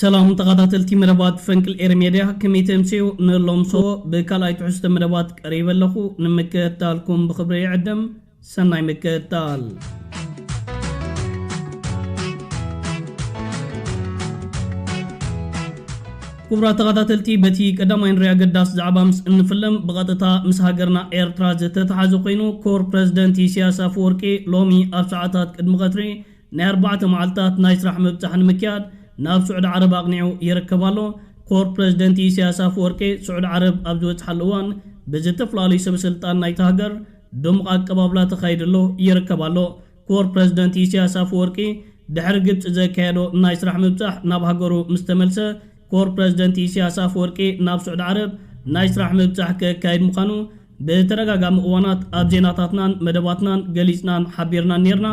ሰላም ተኻታተልቲ መደባት ፈንቅል ኤሪ ሜድያ ከመይ ተምስዩ ንሎምሶ ብካልኣይ ትሕዝቶ መደባት ቀሪበ ኣለኹ ንምክእታልኩም ብኽብሪ ይዕድም ሰናይ ምክእታል ክቡራት ተኻታተልቲ በቲ ቀዳማይ ንሪኣ ገዳስ ዛዕባ ምስ እንፍልም ብቐጥታ ምስ ሃገርና ኤርትራ ዝተተሓዘ ኮይኑ ኮር ፕረዚደንት ኢሲያስ ኣፈወርቂ ሎሚ ኣብ ሰዓታት ቅድሚ ቀትሪ ናይ ኣርባዕተ መዓልታት ናይ ስራሕ ምብጻሕ ንምክያድ ናብ ስዑዲ ዓረብ ኣቕኒዑ ይርከብ ኣሎ። ኮር ፕረዚደንት ኢሳያስ ኣፈወርቂ ስዑዲ ዓረብ ኣብ ዝበጽሓሉ እዋን ብዝተፈላለዩ ሰበስልጣን ናይታ ሃገር ድሙቕ ኣቀባብላ ተኻይድሉ ይርከብ ኣሎ። ኮር ፕረዚደንት ኢሳያስ ኣፈወርቂ ድሕሪ ግብጺ ዘካየዶ ናይ ስራሕ ምብጻሕ ናብ ሃገሩ ምስ ተመልሰ ኮር ፕረዚደንት ኢሳያስ ኣፈወርቂ ናብ ስዑዲ ዓረብ ናይ ስራሕ ምብጻሕ ከካይድ ምዃኑ ብተደጋጋሚ እዋናት ኣብ ዜናታትናን መደባትናን ገሊጽናን ሓቢርናን ኔርና፣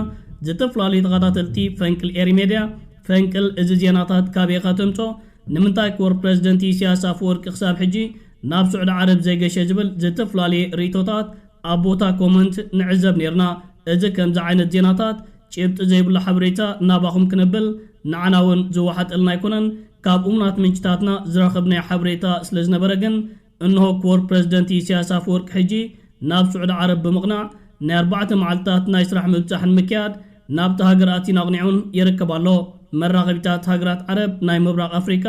ዝተፈላለዩ ተኸታተልቲ ፈንቅል ኤሪ ሜድያ፣ ፈንቅል እዚ ዜናታት ካበይ ኢኻ ተምጽኦ፣ ንምንታይ ኮር ፕረዚደንት ኢሲያስ ኣፈወርቂ ክሳብ ሕጂ ናብ ሱዕዲ ዓረብ ዘይገሸ ዝብል ዝተፈላለየ ርኢቶታት ኣብ ቦታ ኮመንት ንዕዘብ ኔርና፣ እዚ ከምዚ ዓይነት ዜናታት ጭብጢ ዘይብሉ ሓበሬታ ናባኹም ክነብል ንዓና ውን ዝወሓጠልና ኣይኮነን፣ ካብ እሙናት ምንጭታትና ዝረኸብናዮ ሓበሬታ ስለዝነበረ ግን እንሆ ክቡር ፕረዚደንት ኢሳያስ ኣፈወርቂ ሕጂ ናብ ስዑዲ ዓረብ ብምቕናዕ ናይ ኣርባዕተ መዓልታት ናይ ስራሕ ምብጻሕ ንምክያድ ናብታ ሃገር ኣትዩን ኣቕኒዑን ይርከብ ኣሎ። መራኸቢታት ሃገራት ዓረብ ናይ ምብራቕ ኣፍሪቃ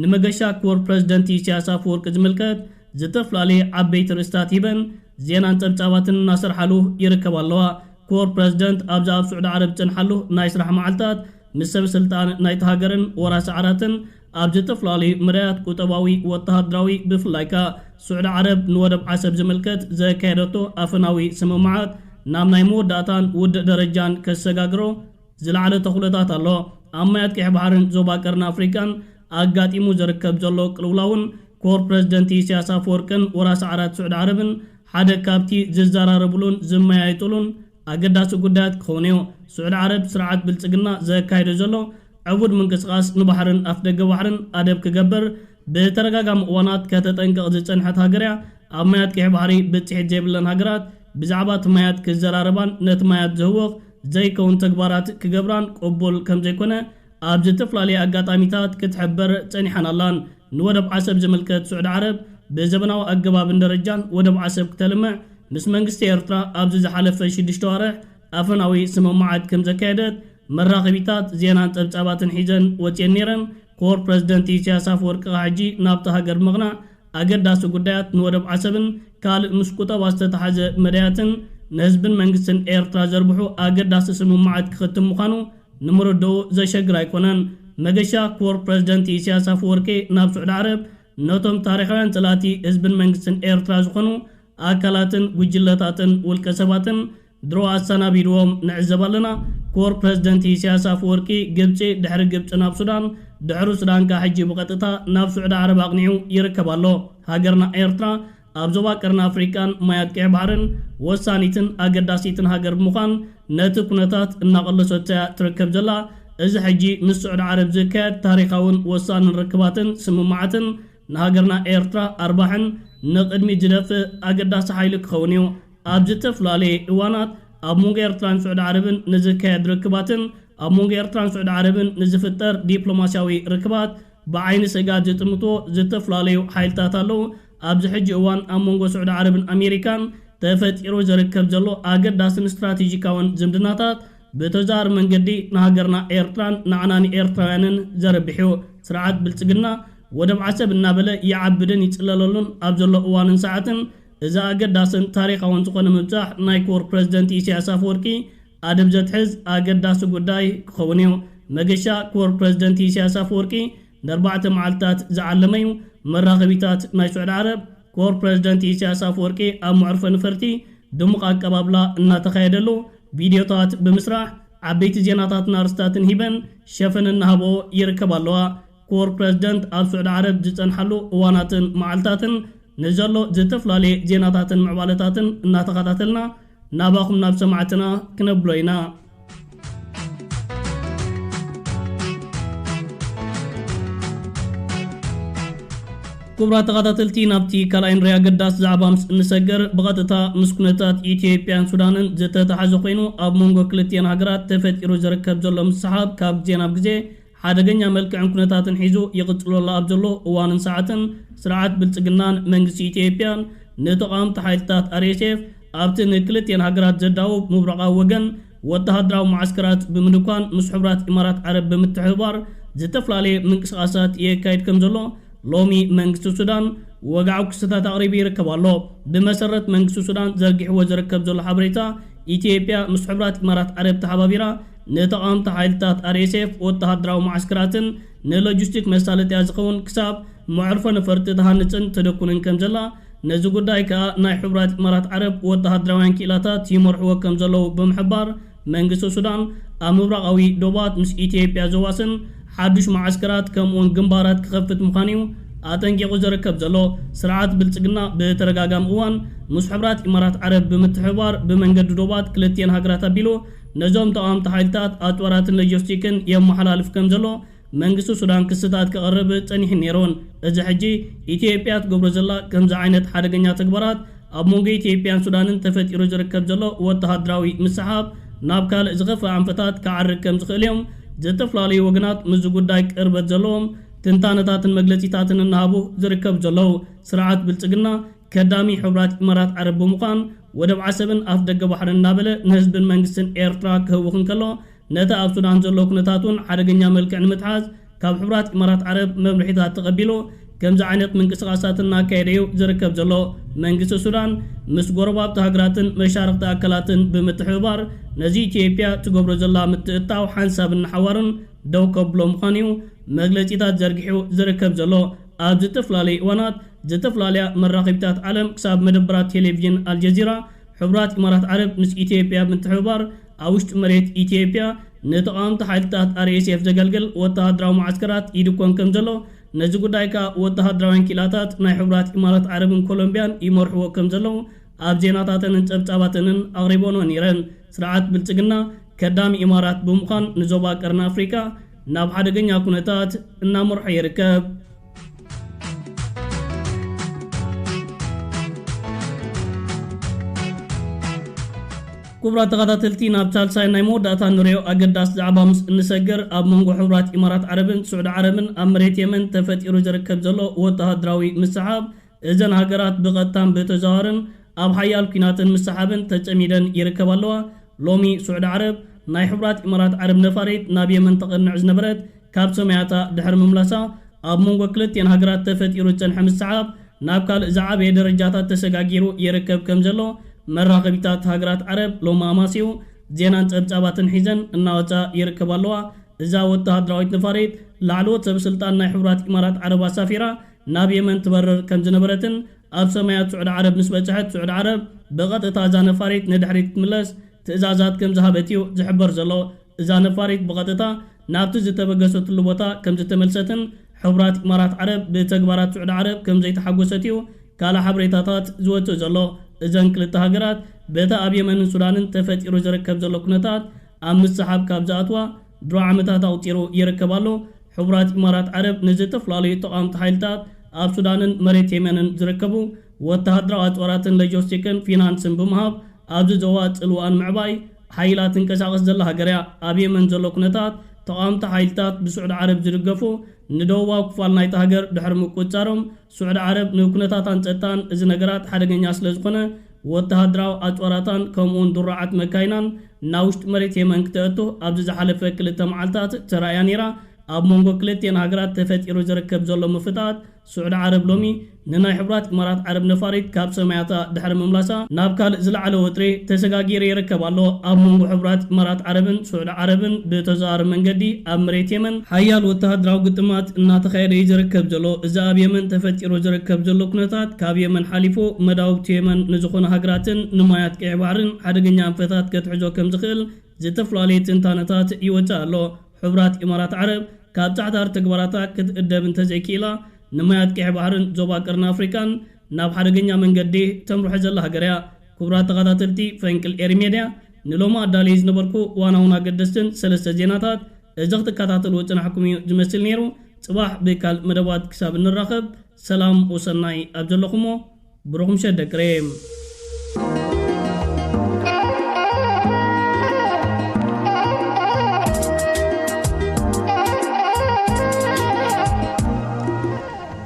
ንመገሻ ክቡር ፕረዚደንት ኢሳያስ ኣፈወርቂ ዝምልከት ዝተፍላለየ ዓበይቲ ርእስታት ሂበን ዜናን ጸብጻባትን እናሰርሓሉ ይርከባ ኣለዋ። ክቡር ፕረዚደንት ኣብዚ ኣብ ስዑዲ ዓረብ ዝጸንሓሉ ናይ ስራሕ መዓልታት ምስ ሰበስልጣን ናይታ ሃገርን ወራሲ ዓራትን ኣብ ዝተፈላለዩ መዳያት ቁጠባዊ፣ ወተሃደራዊ፣ ብፍላይ ከኣ ስዑዲ ዓረብ ንወደብ ዓሰብ ዝምልከት ዘካየደቶ ኣፈናዊ ስምምዓት ናብ ናይ መወዳእታን ውድእ ደረጃን ከሰጋግሮ ዝለዓለ ተኽእሎታት ኣሎ። ኣብ ማያት ቀይሕ ባሕርን ዞባ ቀርኒ ኣፍሪቃን ኣጋጢሙ ዝርከብ ዘሎ ቅልውላውን ኮር ፕረዚደንት ኢሳያስ ኣፈወርቅን ወራሲ ዓራት ስዑዲ ዓረብን ሓደ ካብቲ ዝዘራረብሉን ዝመያየጥሉን ኣገዳሲ ጉዳያት ክኸውንዮ። ስዑዲ ዓረብ ስርዓት ብልጽግና ዘካይዶ ዘሎ ዕቡድ ምንቅስቓስ ንባሕርን ኣፍደገ ባሕርን ኣደብ ክገብር ብተደጋጋሚ እዋናት ከተጠንቅቕ ዝጸንሐት ሃገር'ያ። ኣብ ማያት ቀይሕ ባሕሪ ብጽሒት ዘይብለን ሃገራት ብዛዕባ'ቲ ማያት ክዘራረባን ነቲ ማያት ዘህውኽ ዘይከውን ተግባራት ክገብራን ቅቡል ከምዘይኮነ ኣብ ዝተፈላለየ ኣጋጣሚታት ክትሕብር ጸኒሓን ኣላን። ንወደብ ዓሰብ ዝምልከት ስዑዲ ዓረብ ብዘበናዊ ኣገባብን ደረጃን ወደብ ዓሰብ ክተልምዕ ምስ መንግስቲ ኤርትራ ኣብዚ ዝሓለፈ ሽዱሽተ ኣዋርሕ ኣፈናዊ ስምምዓት ከምዘካየደት መራኸቢታት ዜናን ጸብጻባትን ሒዘን ወጺኤን ነይረን። ኮር ፕረዚደንት ኢሳያስ ኣፈወርቂ ክኣ ሕጂ ናብታ ሃገር ብምቕናዕ ኣገዳሲ ጉዳያት ንወደብ ዓሰብን ካልእ ምስ ቁጠባ ዝተተሓዘ መዳያትን ንህዝብን መንግስትን ኤርትራ ዘርብሑ ኣገዳሲ ስምምዓት ክኽትም ምዃኑ ንምርድኡ ዘሸግር ኣይኮነን። መገሻ ኮር ፕረዚደንት ኢሳያስ ኣፈወርቂ ናብ ስዑዲ ዓረብ ነቶም ታሪኻውያን ጸላእቲ ህዝብን መንግስትን ኤርትራ ዝኾኑ ኣካላትን ጉጅለታትን ውልቀ ሰባትን ድሮ ኣሰናቢድዎም ንዕዘብ ኣለና ኮር ፕረዚደንት ኢሰያስ ኣፈወርቂ ግብጺ ድሕሪ ግብጺ ናብ ሱዳን ድሕሪ ሱዳን ከኣ ሕጂ ብቐጥታ ናብ ሱዕዲ ዓረብ ኣቕኒዑ ይርከብ ኣሎ ሃገርና ኤርትራ ኣብ ዞባ ቀርኒ ኣፍሪቃን ማያት ቀይሕ ባሕርን ወሳኒትን ኣገዳሲትን ሃገር ብምዃን ነቲ ኩነታት እናቐለሰቶ እያ ትርከብ ዘላ እዚ ሕጂ ምስ ሱዕዲ ዓረብ ዝካየድ ታሪኻውን ወሳንን ርክባትን ስምምዓትን ንሃገርና ኤርትራ ኣርባሕን ንቕድሚት ዝደፍእ ኣገዳሲ ሓይሊ ክኸውን እዩ ኣብ ዝተፈላለየ እዋናት ኣብ መንጎ ኤርትራን ስዑዲ ዓረብን ንዝካየድ ርክባትን ኣብ መንጎ ኤርትራን ስዑዲ ዓረብን ንዝፍጠር ዲፕሎማስያዊ ርክባት ብዓይኒ ስእጋት ዝጥምትዎ ዝተፈላለዩ ሓይልታት ኣለዉ። ኣብዚ ሕጂ እዋን ኣብ መንጎ ስዑዲ ዓረብን ኣሜሪካን ተፈጢሩ ዝርከብ ዘሎ ኣገዳስን ስትራቴጂካውን ዝምድናታት ብተዘዋዋሪ መንገዲ ንሃገርና ኤርትራን ንዓና ንኤርትራውያንን ዘርብሕ'ዩ። ስርዓት ብልጽግና ወደብ ዓሰብ እናበለ ይዓብድን ይጽለለሉን ኣብ ዘሎ እዋንን ሰዓትን፣ እዚ ኣገዳስን ታሪኻውን ዝኾነ ምብጻሕ ናይ ክቡር ፕረዚደንት ኢሳያስ ኣፈወርቂ ኣደብ ዘትሕዝ ኣገዳሲ ጉዳይ ክኸውን እዩ። መገሻ ክቡር ፕረዚደንት ኢሳያስ ኣፈወርቂ ንኣርባዕተ መዓልትታት ዝዓለመ እዩ። መራኸቢታት ናይ ስዑድ ዓረብ፣ ክቡር ፕረዚደንት ኢሳያስ ኣፈወርቂ ኣብ መዕርፎ ነፈርቲ ድሙቕ ኣቀባብላ እናተኻየደሉ ቪድዮታት ብምስራሕ ዓበይቲ ዜናታትን ኣርእስታትን ሂበን ሸፈን እናሃብኦ ይርከባ ኣለዋ። ክቡር ፕረዚደንት ኣብ ስዑዲ ዓረብ ዝጸንሓሉ እዋናትን መዓልታትን ንዘሎ ዝተፈላለየ ዜናታትን ምዕባለታትን እናተኸታተልና ናባኹም ናብ ሰማዕትና ክነብሎ ኢና። ክቡራት ተኸታተልቲ ናብቲ ካልኣይ ንሪ ኣገዳሲ ዛዕባ ምስ እንሰገር ብቐጥታ ምስ ኩነታት ኢትዮጵያን ሱዳንን ዝተተሓዘ ኮይኑ ኣብ መንጎ ክልቲኤን ሃገራት ተፈጢሩ ዝርከብ ዘሎ ምስሕሓብ ካብ ግዜ ናብ ግዜ ሓደገኛ መልክዕን ኩነታትን ሒዙ ይቕጽለሉ ኣብ ዘሎ እዋንን ሰዓትን፣ ስርዓት ብልጽግናን መንግስቲ ኢትዮጵያን፣ ንተቓወምቲ ሓይልታት RSF ኣብቲ ንክልቲኤን ሃገራት ዘዳውብ ምብራቓዊ ወገን ወተሃደራዊ መዓስከራት ብምድኳን ምስ ሕቡራት ኢማራት ዓረብ ብምትሕብባር ዝተፈላለየ ምንቅስቓሳት የካይድ ከም ዘሎ ሎሚ መንግስቲ ሱዳን ወግዓዊ ክስታት ኣቕሪቡ ይርከብ ኣሎ። ብመሰረት መንግስቲ ሱዳን ዘርጊሕዎ ዝርከብ ዘሎ ሓበሬታ፣ ኢትዮጵያ ምስ ሕቡራት ኢማራት ዓረብ ተሓባቢራ ንተቓወምቲ ሓይልታት RSF ወተሃደራዊ መዓስከራትን ንሎጂስቲክ መሳለጥያ ዝኸውን ክሳብ መዕርፎ ነፈርቲ ትሃንጽን ተደኩንን ከምዘላ፣ ነዚ ጉዳይ ከኣ ናይ ሕቡራት ኢማራት ዓረብ ወተሃደራውያን ክኢላታት ይመርሕዎ ከምዘለዉ ብምሕባር፣ መንግስቲ ሱዳን ኣብ ምብራቓዊ ዶባት ምስ ኢትዮጵያ ዘዋስን ሓዱሽ መዓስከራት ከምኡ'ውን ግንባራት ክኸፍት ምዃኑ'ዩ ኣጠንቂቑ ዝርከብ ዘሎ። ስርዓት ብልጽግና ብተደጋጋሚ እዋን ምስ ሕቡራት ኢማራት ዓረብ ብምትሕብባር ብመንገዲ ዶባት ክልቲኤን ሃገራት ኣቢሉ ነዞም ተቓወምቲ ሓይልታት ኣጽዋራትን ሎጂስቲክን የመሓላልፍ ከም ዘሎ መንግስቲ ሱዳን ክስታት ከቕርብ ጸኒሑን ነይሩን። እዚ ሕጂ ኢትዮጵያ ትገብሮ ዘላ ከምዚ ዓይነት ሓደገኛ ተግባራት ኣብ መንጎ ኢትዮጵያን ሱዳንን ተፈጢሩ ዝርከብ ዘሎ ወተሃደራዊ ምስሕሓብ ናብ ካልእ ዝኸፍኣ ኣንፈታት ክዓርግ ከም ዝኽእል እዮም ዝተፈላለዩ ወገናት ምስዚ ጉዳይ ቅርበት ዘለዎም ትንታነታትን መግለጺታትን እናሃቡ ዝርከቡ ዘለዉ። ስርዓት ብልጽግና ከዳሚ ሕቡራት ኢማራት ዓረብ ብምዃን ወደብ ዓሰብን ኣፍደገ ባሕርን እናበለ ንህዝብን መንግስትን ኤርትራ ክህውኽ እንከሎ፣ ነቲ ኣብ ሱዳን ዘሎ ኩነታት እውን ሓደገኛ መልክዕ ንምትሓዝ ካብ ሕቡራት ኢማራት ዓረብ መምርሒታት ተቐቢሉ ከምዚ ዓይነት ምንቅስቓሳት እናካየደ እዩ ዝርከብ ዘሎ። መንግስቲ ሱዳን ምስ ጎረባብቲ ሃገራትን መሻርኽቲ ኣካላትን ብምትሕብባር ነዚ ኢትዮጵያ ትገብሮ ዘላ ምትእትታው ሓንሳብን ንሓዋሩን ደው ከብሎ ምዃኑ እዩ መግለጺታት ዘርጊሑ ዝርከብ ዘሎ። ኣብ ዝተፈላለዩ እዋናት ዘተፈላለያ መራኸቢታት ዓለም ክሳብ መደበራት ቴሌቪዥን ኣልጀዚራ፣ ሕቡራት ኢማራት ዓረብ ምስ ኢትዮጵያ ብምትሕብባር ኣብ ውሽጢ መሬት ኢትዮጵያ ንተቓወምቲ ሓይልታት RSF ዘገልግል ወተሃደራዊ መዓስከራት ይድኮን ከምዘሎ፣ ነዚ ጉዳይ ከኣ ወተሃደራውያን ክኢላታት ናይ ሕቡራት ኢማራት ዓረብን ኮሎምብያን ይመርሕዎ ከምዘለዉ ኣብ ዜናታተንን ጸብጻባተንን ኣቕሪበንኦ ነይረን። ስርዓት ብልጽግና ከዳሚ ኢማራት ብምዃን ንዞባ ቀርኒ ኣፍሪቃ ናብ ሓደገኛ ኩነታት እናመርሖ ይርከብ። ክቡራት ተኸታተልቲ ናብ ሳልሳይ ናይ መወዳእታ ንሪኦ ኣገዳሲ ዛዕባ ምስ እንሰገር ኣብ መንጎ ሕቡራት ኢማራት ዓረብን ስዑዲ ዓረብን ኣብ መሬት የመን ተፈጢሩ ዝርከብ ዘሎ ወተሃደራዊ ምስሕሓብ እዘን ሃገራት ብቐጥታን ብተዘዋዋርን ኣብ ሓያል ኲናትን ምስሓብን ተጸሚደን ይርከባ ኣለዋ። ሎሚ ሱዕዲ ዓረብ፣ ናይ ሕቡራት ኢማራት ዓረብ ነፋሪት ናብ የመን ተቐንዕ ዝነበረት ካብ ሰማያታ ድሕሪ ምምላሳ፣ ኣብ መንጎ ክልቲኤን ሃገራት ተፈጢሩ ዝጸንሐ ምስሓብ ናብ ካልእ ዝዓበየ ደረጃታት ተሰጋጊሩ ይርከብ ከም ዘሎ መራኸቢታት ሃገራት ዓረብ ሎሚ ኣማሲኡ ዜናን ጸብጻባትን ሒዘን እናወጻ ይርከባ ኣለዋ። እዛ ወተሃደራዊት ነፋሪት፣ ላዕለዎት ሰበስልጣን ናይ ሕቡራት ኢማራት ዓረብ ኣሳፊራ ናብ የመን ትበርር ከም ዝነበረትን ኣብ ሰማያት ስዑዲ ዓረብ ምስ በጽሐት ስዑዲ ዓረብ ብቐጥታ እዛ ነፋሪት ንድሕሪት ክትምለስ ትእዛዛት ከም ዝሃበት'ዩ ዝሕበር ዘሎ። እዛ ነፋሪት ብቐጥታ ናብቲ ዝተበገሰትሉ ቦታ ከም ዝተመልሰትን ሕቡራት ኢማራት ዓረብ ብተግባራት ስዑዲ ዓረብ ከም ዘይተሓጎሰት'ዩ ካልእ ሓበሬታታት ዝወጽእ ዘሎ። እዘን ክልተ ሃገራት በቲ ኣብ የመንን ሱዳንን ተፈጢሩ ዝርከብ ዘሎ ኩነታት ኣብ ምስሕሓብ ካብ ዝኣትዋ ድሮ ዓመታት ኣቑጺሩ ይርከብ ኣሎ። ሕቡራት ኢማራት ዓረብ ንዝተፍላለዩ ተቓወምቲ ሓይልታት ኣብ ሱዳንን መሬት የመንን ዝርከቡ ወተሃደራዊ ኣጽዋራትን ለጆስቲክን ፊናንስን ብምሃብ ኣብዚ ዞባ ጽልዋኣ ንምዕባይ ሓይላ ትንቀሳቐስ ዘላ ሃገር'ያ። ኣብ የመን ዘሎ ኩነታት ተቓወምቲ ሓይልታት ብስዑዲ ዓረብ ዝድገፉ ንደቡባዊ ክፋል ናይታ ሃገር ድሕሪ ምቁጽጻሮም ስዑዲ ዓረብ ንኩነታታን ጸጥታን እዚ ነገራት ሓደገኛ ስለ ዝኾነ ወተሃደራዊ ኣጽዋራታን ከምኡ'ውን ድሩዓት መካይናን ናብ ውሽጢ መሬት የመን ክተእቱ ኣብዚ ዝሓለፈ ክልተ መዓልታት ተራእያ ነይራ። ኣብ መንጎ ክልቲኤን ሃገራት ተፈጢሩ ዝርከብ ዘሎ ምፍጥጣት ስዑዲ ዓረብ ሎሚ ንናይ ሕቡራት ኢማራት ዓረብ ነፋሪት ካብ ሰማያታ ድሕሪ ምምላሳ ናብ ካልእ ዝለዓለ ወጥሪ ተሰጋጊሩ ይርከብ ኣሎ። ኣብ መንጎ ሕቡራት ኢማራት ዓረብን ስዑዲ ዓረብን ብተዘዋዋሪ መንገዲ ኣብ መሬት የመን ሓያል ወተሃደራዊ ግጥማት እናተኻየደ እዩ ዝርከብ ዘሎ። እዚ ኣብ የመን ተፈጢሩ ዝርከብ ዘሎ ኩነታት ካብ የመን ሓሊፉ መዳውብቲ የመን ንዝኾኑ ሃገራትን ንማያት ቀይሕ ባሕርን ሓደገኛ ኣንፈታት ከትሕዞ ከምዝኽእል ዝተፈላለየ ትንታነታት ይወጽእ ኣሎ። ሕቡራት ኢማራት ዓረብ ካብ ጻዕታሪ ተግባራታ ክትእደብ እንተዘይክኢላ ንማያት ቀይሕ ባሕርን ዞባ ቀርኒ ኣፍሪቃን ናብ ሓደገኛ መንገዲ ተምርሖ ዘላ ሃገር እያ። ክቡራት ተኻታተልቲ ፈንቅል ኤሪ ሜድያ! ንሎሚ ኣዳልየዮ ዝነበርኩ ዋናውን ኣገደስትን ሰለስተ ዜናታት እዚ ክትከታተልዎ ዝጸናሕኩም እዩ ዝመስል ነይሩ። ጽባሕ ብካልእ መደባት ክሳብ እንራኸብ ሰላም ወሰናይ ኣብ ዘለኹሞ ብሩኽ ምሸት ደቂ ሬም።